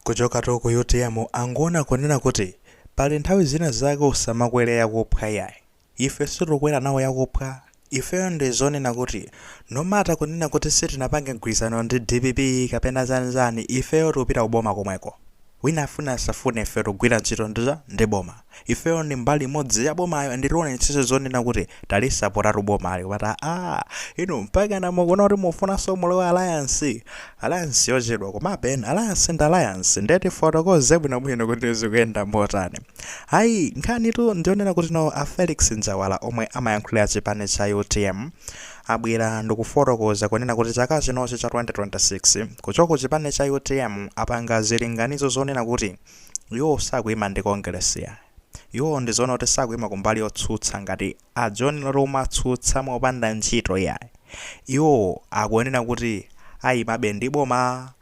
Kuchokatu ku utm akuona kunena kuti pali nthawi zina zake usamakwele yakuphwa iyayi. Ife sitikukwera nawo yakuphwa. Ifeyo ndi zonena kuti no matter kunena kuti sitinapange mgwirizano ndi dpp kapena zani zani ifeyo tikupita ku boma komweko. Wina afune asafune ife tikugwira ntchito ndi cha ndi boma. Ifeyo ndi mbali imodzi ya bomayo nde tionetsetsa zonena kuti talisapotatu bomali kupata aah inu mpakana mukuona kuti mufunanso mulowe alliance? Alliance yochedwa komabe alliance ndi alliance nde tifotokoze bwinobwino kuti zikuyenda motani. Ayi nkhanitu ndiyonena kuti no a Felix Njawala omwe amayankhulira chipani cha utm abwera ndikufotokoza kunena kuti chaka chinochi cha 2026 kuchoka kuchipani cha utm apanga zilinganizo zonena kuti Iwo sakuima ndi Kongeresi yayi. Iwo ndi zonena kuti sakuima kumbali yotsutsa ngati a John Lori omatsutsa mopanda ntchito yayi. Iwo akuonena kuti aimabe ndi boma,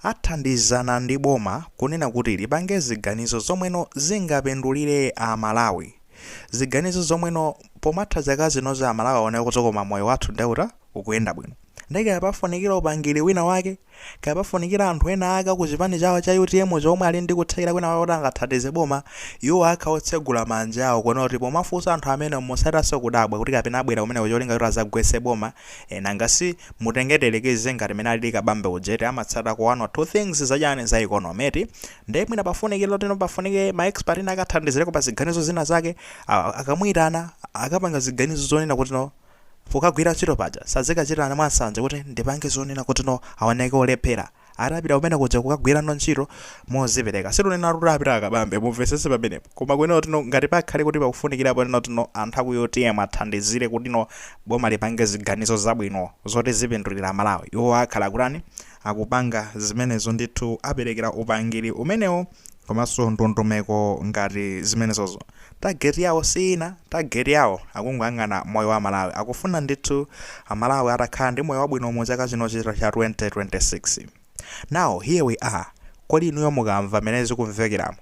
athandizana ndi boma kunena kuti lipange ziganizo zomweno zingapindulire a Malawi. Ziganizo zomweno pomatha zaka zinozi a Malawi aone kuti koma moyo wathu nde uta, ukuyenda bwino. Nde kaya pafunikira upangiri wina wake. Kaya pafunikira anthu ena ake aku chipani chawo cha utm cho omwe ali ndi kuthekera kwina kwake kuti angathandize boma, iwo akhala otsegula manja awo kuona kuti pomafunsa anthu amenewo musachitenso kudabwa kuti kapena abwera kumeneko cholinga choti azagwetse boma ee nanga si mutenge tiyerekeze ngati mene alili Kabambe uja eti amatsatako 1 or 2 things za chani za economy eti nde mwina pafunikira zoti no pafunike ma expert ena ake akathandizireko pa ziganizo zina zake akamuitana akapanga ziganizo zonena kuti no Pokagwira ntchito paja sazikachitirana mwa nsanje kuti ndipange zonena kuti no aoneke olephera. Azapita kumene kuja kukagwira no ntchito mozipereka. Situnenatu kuti apite akabambe, mumvesese pamenepo. Koma kunena kuti no ngati pakhale kuti pakufunikirapo kunena kuti no anthu aku utm athandizire kuti no boma lipange ziganizo zabwino zoti zipindulira Amalawi, iwo akhala akutani? Akupanga zimenezo ndithu, aperekera upangiri umenewo komanso ndondomeko ngati zimenezozo. Target yawo si ina, target yawo akungoyang'ana moyo wa a Malawi. Akufuna ndithu a Malawi atakhala ndi moyo wabwino mu chaka chinochi cha 2026. Now here we are, kodi inuyo mukamva mmene zikumvekeramo,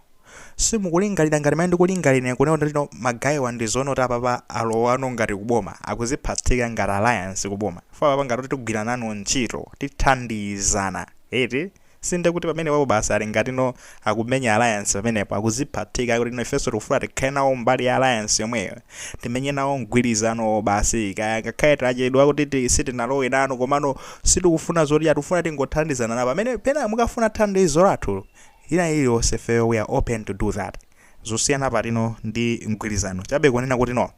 simukulingalira ngati mmene ndikulingalira ine kunena kuti ma guy wa ndi zoona kuti apapa alowano ngati ku boma, akuziphatika ngati alliance ku boma. Chifukwa apapa ngati kuti tigwira nanu ntchito, tithandizana eti. Sinde kuti pamene papo basi ali ngati no akumenya alliance pamenepo akuziphatika kuti no ifeso tikufuna tikhale nawo mbali ya alliance yomweyo timenye nawo mgwilizanowo basi kaya ngakhale tachedwa kuti ti, sitinalowe nanu komano sitikufuna zoti aa tikufuna tingothandizana nawo pamene pena mukafuna thandizo lathu ina iliyonse ifeyo we are open to do that zosiyana pati no ndi mgwilizano chabe kunena kuti no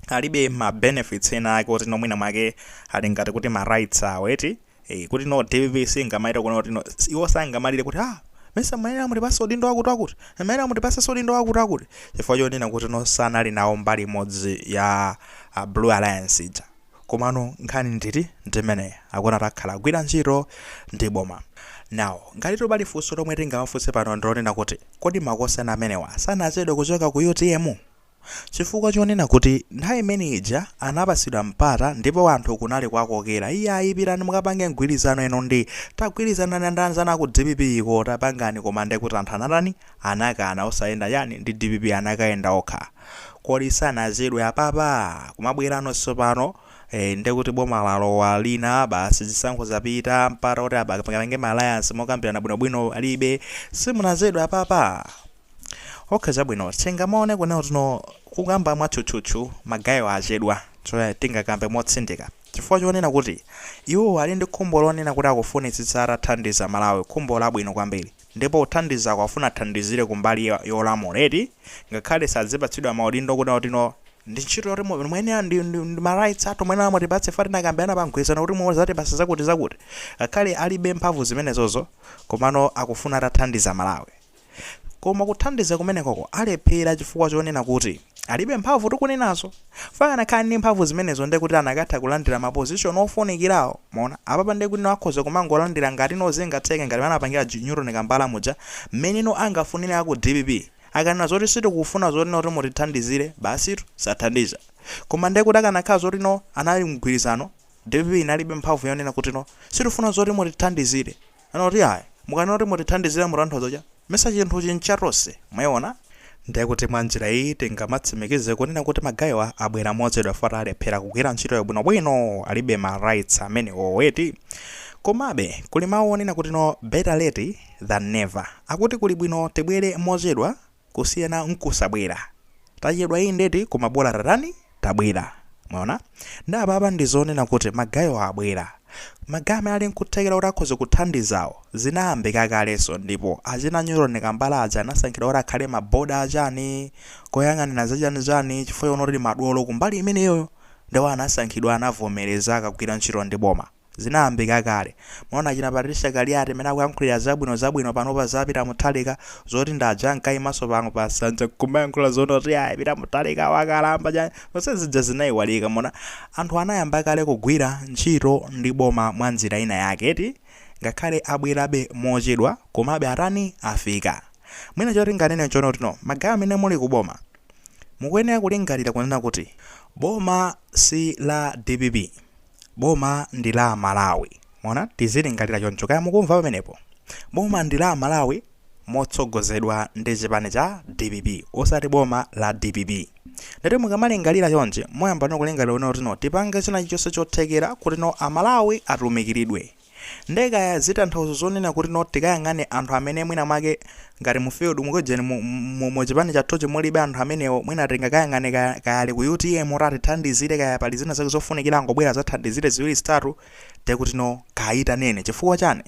alibe ma benefits ena ake oti no mwina mwake ali ngati kuti ma rights awo eti Eh, kuti no dpp singamayita kuona kuti no s- iwo sangamalire kuti ah mesa mayenera mutipasa udindo wakuti wakuti mayenera mutipasa udindo wakuti wakuti chifukwa chonena kuti no sanali nawo mbali imodzi ya uh, blue alliance ija komano nkhani nditi ndimene akuona takhala agwira ntchito ndi boma now ngati topali funso lomwe tingawafunse pano ndilonena kuti kodi makosana amenewa sanachedwe kuchoka ku utm Chifukwa chonena kuti nthawi imene ija anapatsidwa mpata ndipo anthu kunali kwakokera iyayi pitani mukapange mgwilizano inu ndi tagwilizanani ndi anzanu aku dpp ko tapangani koma nde kuti anthu anatani anakana osayenda chani ndi dpp anakayenda okha kodi sanachedwe apapa kumabwelano tsopano ee nde kuti boma lalowa lina basi zisankho zapita mpata oti apange ma alliance mokambirana bwinobwino palibe simunachedwe apapa? Okay chabwino tingamaone kunena kuti no kukamba mwatchutchutchu magayo achedwa choya tingakambe motsindika chifukwa chonena kuti iwowo ali ndi khumbo lonena kuti akufunitsitsa atathandiza Malawi khumbo labwino kwambiri ndipo kuthandizako afuna athandizire kumbali yolamula eti ngakhale sadzipatsidwa maudindo kunena kuti no ndi ntchito yoti muyenera ndi ma rights athu muyenera mutipatse chifukwa tinakambirana pa mgwirizano kuti muzatipatsa zakutizakuti ngakhale alibe mphamvu zimenezozo komano akufuna atathandiza Malawi. Koma kuthandiza kumenekoko alephera chifukwa chonena kuti alibe mphamvu tikunenazo. Akanakhala ndi mphamvu zimenezo ndiye kuti anakatha kulandira mapozishoni ofunikirawo. Mwaona? Apapa ndiye kuti no akhoza kumangolandira ngati no zingatheke ngati mmene anapangira che Newton Kambala muja, mmene no angafunire a ku dpp. Akanena zoti sitikufuna zoti no kuti mutithandizire, basitu, sathandiza. Koma ndiye kuti akanakhala zoti no anali mgwirizano, dpp inalibe mphamvu yonena kuti no sitifuna zoti mutithandizire. Anena kuti ayi, mukanena kuti mutithandizire mutanthauza chani mesa chinthuchi ncha tonse. Mwaiona? Ndiye kuti mwa njira iyi tingamatsimikize kunena kuti magayiwa abwera mochedwa chifukwa alephera kugwira ntchitoyo bwinobwino, alibe ma rights amenewo eti. Komabe, kuli mawu onena kuti no better late than never. Akuti kuli bwino tibwere mochedwa. kusiyana nkusabwera. Tachedwa indedi koma bola tatani? Tabwera. Mwaona? Nde apapa ndi zonena kuti ma guy wa abwera. Ma guy amene ali nkuthekera kuti akhoza kuthandizawo, zinayambika kalenso ndipo achina Newton Kambala aja anasankhidwa kuti akhale ma board a chani, koyang'anira za chani chani chifukwa chonena kuti ndi madolo kumbali imeneyoyo. Nde iwo anasankhidwa anavomereza akagwira ntchito ndi boma. Zinayambika kale. Mwaona achina Patricia Kaliati mmene akuyankhulira zabwino zabwino panopa za Peter Mutharika, zoti ndi aja ankayimanso pano pa nsanja nkumayankhula zonena kuti ayi Peter Mutharika wakalamba chani, zonse zija zinayiwalika. Mwaona? Anthu anayamba kale kugwira ntchito ndi boma mwa njira ina yake eti, ngakhale abwerabe mochedwa komabe atani, afika. Mwina choti ndinganene nchonena kuti no magaye amene muli ku boma, mukuyenera kulingalira kunena kuti boma si la dpp. Boma ndi la Amalawi. Mwaona? Tizilingalira choncho. Kaya mukumva pamenepo? Boma ndi la Amalawi motsogozedwa ndi chipani cha dpp, osati boma la dpp. Ndati mukamalingalira chonchi, muyamba no kulingalira kuti no tipange china chilichonse chothekera kuti no Amalawi atumikiridwe. Nde kaya zitanthauzo zonena kuti no tikayang'ane anthu amene mwina mwake ngati mu field mu kujeni mu mu mu chipani chathuchi mulibe anthu amenewo mwina tingakayang'ane kaya kaya ali ku utm kuti atithandizire kaya pali zina zake zofunikira angobwera azathandizire ziwiri zitatu nde kuti no kayitaneni chifukwa chani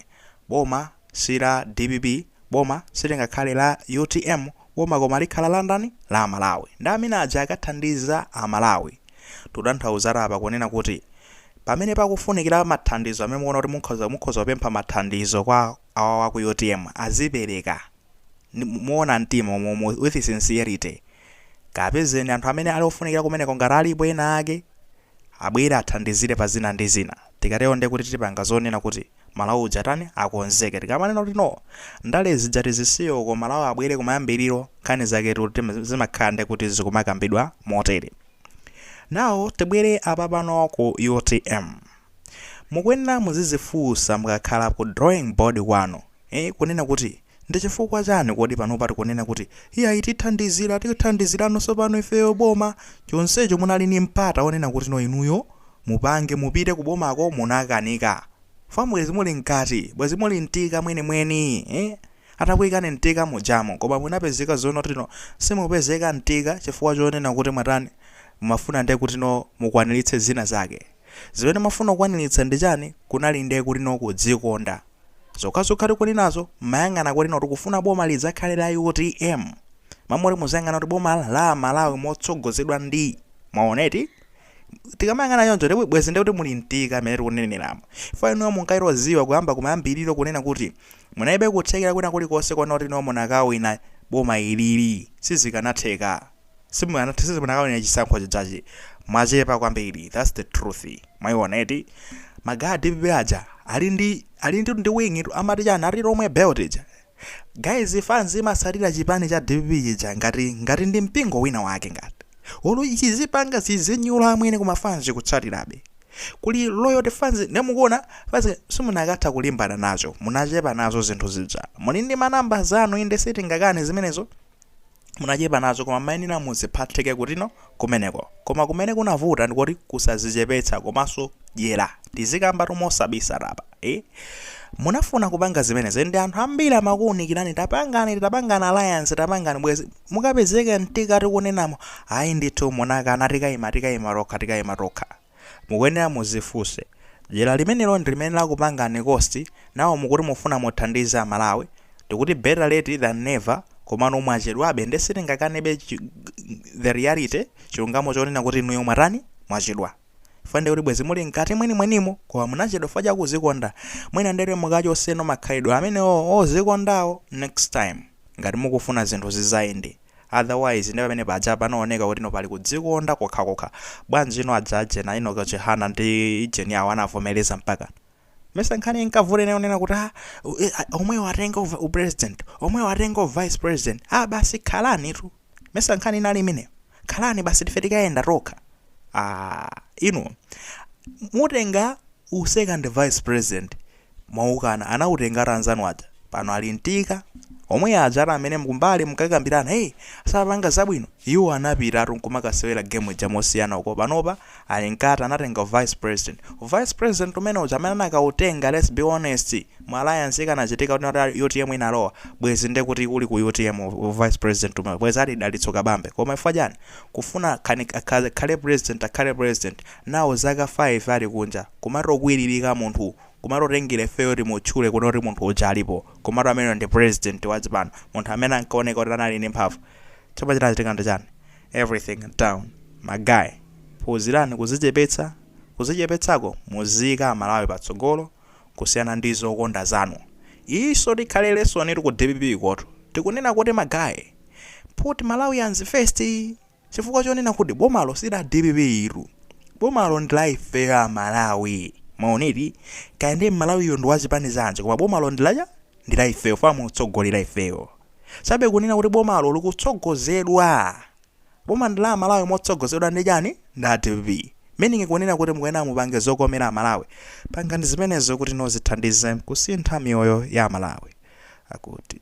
boma si la dpp boma silingakhale la utm boma koma likhala la ndani la amalawi nde amene aja akathandiza amalawi Tikutanthauza apa kunena kuti pamene pakufunikira mathandizo amene mukuona kuti mukhoza mukhoza kupempha mathandizo kwa awa wa ku UTM azipereka moona mtima umu- umu- with sincerity kapezeni anthu amene ali ofunikira kumeneko ngati alipo ena ake abwere athandizire pa zina ndi zina tikatero ndiye kuti tipanga zonena kuti Malawi uja atani akonzeke tikamanena kuti no ndale zija tizisiye uko Malawi abwere kumayambiriro nkhani zake ti- zimakhala nde kuti zikumakambidwa motere now tibwere apapano ku utm mukuyenera muzizifunsa mukakhala ku drawing board kwanu eh, kunena kuti Ndi chifukwa chani kodi panopa tikunena kuti iyayi tithandizira, tithandizirano sopano ifeyo boma, chonsecho munali ndi mpata onena kuti no inuyo mupange, mupite ku bomako munakanika. Fwa bwezi muli mkati, bwezi muli mtika mwene mweni eeh, atakuikani mtika mujamo koma munapezeka zonoti no simupezeka mtika chifukwa chonena kuti mwatani, mumafuna nde kuti no mukwanilitse zina zake. Zimene mumafuna kukwanilitsa ndi chani, kunali nde kuti no kudzikonda. Zokhazokha tikuli nazo mmayang'ana kuti no tikufuna boma lidzakhale la utm. M'malo moti muziyang'ana kuti boma la amalawi motsogozedwa ndi. Mwaona eti? Tikamayang'ana choncho ndipo bwezi ndekuti muli mtika mmene tikuneneleramu. Chifukwa inuyo munkadziwa kuyamba kumayambiriro kunena kuti munaibe kuthekera kwina kulikonse konena kuti no munakawina boma ilili. Sizikanatheka. simukanatha simunakawina chisankho chijachi mwachepa kwambiri that's the truth mwaiona eti magaya a dpp aja ali ndi ali ndi wing tu amati chani ati lomwe belt ija guys fans imasatira chipani cha dpp chija ngati ngati ndi mpingo wina wake ngati olo chizipanga zizinyula amwene koma fans kutsatirabe kuli loyal fans nemukuona fans simunakatha kulimbana nazo munachepa nazo zinthu zija muli ndi manamba zanu inde sitingakane zimenezo munachepa nazo koma mayenera muziphathike kuti no kumeneko koma kumene kunavuta ndikoti kusazichepetsa komanso dyera tizikamba tumosabisa tapa eh? munafuna kupanga zimenezi ndi anthu ambiri amakuunikirani tapangani tapangani alliance tapangani bwezi mukupezeka mtika tikunenamo ayi ndithu munakana tikayima tikayima tokha tikayima tokha Mukuyenera muzifunse, dyera limenelo ndi limene lakupangani cost, now mukuti mufuna muthandize a Malawi, tikuti better late than never, komano mwachedwabe nde sitingakanebe the reality, chilungamo chonena kuti inuyo mwatani? Mwachedwa chifukwa ndekuti bwezi muli mkati mwenimwenimo koma munachedwa chifukwa chakuzikonda mwina ndekuti mukachotseno makhalidwe amenewo ozikondawo next time ngati mukufuna zinthu zizayende. otherwise nde pamene paja panooneka kuti no pali kudzikonda kokhakokha. Bwanjino adzajenawa Enock Chihana ndi ijeni yao anavomeleza mpakana? Mesa nkhani inkavuta inali yonena kuti ah omwewo atenge upresident omwewo atenge uvice president ah basi khalani tu mesa nkhani inali imeneyo khalani basi tife tikayenda tokha ah inu mutenga usecond vice president mwaukana anautengatu anzanu aja pano ali mkati omwe ajatu amene mkumbali munkakambirana hey sapanga zabwino iwo anapitatu nkumakasewera game ija mosiyana uko panopa ali nkati anatenga vice president uvice president umene uja amene anakautenga let's be honest mu alliance ikanachitika kuti UTM inalowa bwezi nde kuti uli ku UTM uvice president umene bwezi ali Dalitso Kabambe koma chifukwa chani kufuna khani- akhale akhale president akhale president nawo zaka 5 ali kunja kumangokwiririka munthu kumangotengera ifeyo timutchule kuno kuti munthu uja alipo komatu ameneyo ndi president wa chipani munthu amene ankaoneka kuti anali ndi mphamvu chomwe chinachitika ndi chani everything down ma guy phunzirani kuzichepetsa kuzichepetsako muziika amalawi patsogolo kusiyana ndi zokonda zanu iyinso ikhale lesson ku DPP kotu tikunena kuti ma guy put malawians first Chifukwa chonena kuti bomalo si la dpp tu. Bomalo ndi la ifeyo a Malawi. Mwaona eti? Kaya ndiye Mmalawiyo ndi wa chipani zanji koma bomalo ndi la chani? Ndi la ifeyo chifukwa mukutsogolera ifeyo. Chabe kunena kuti bomalo likutsogozedwa. Boma ndi la a Malawi motsogozedwa ndi chani? Ndi a dpp. Meaning kunena kuti mukuyenera mupange zokomera a Malawi. Pangani zimenezo kuti no zithandize kusintha miyoyo ya a Malawi. Akuti.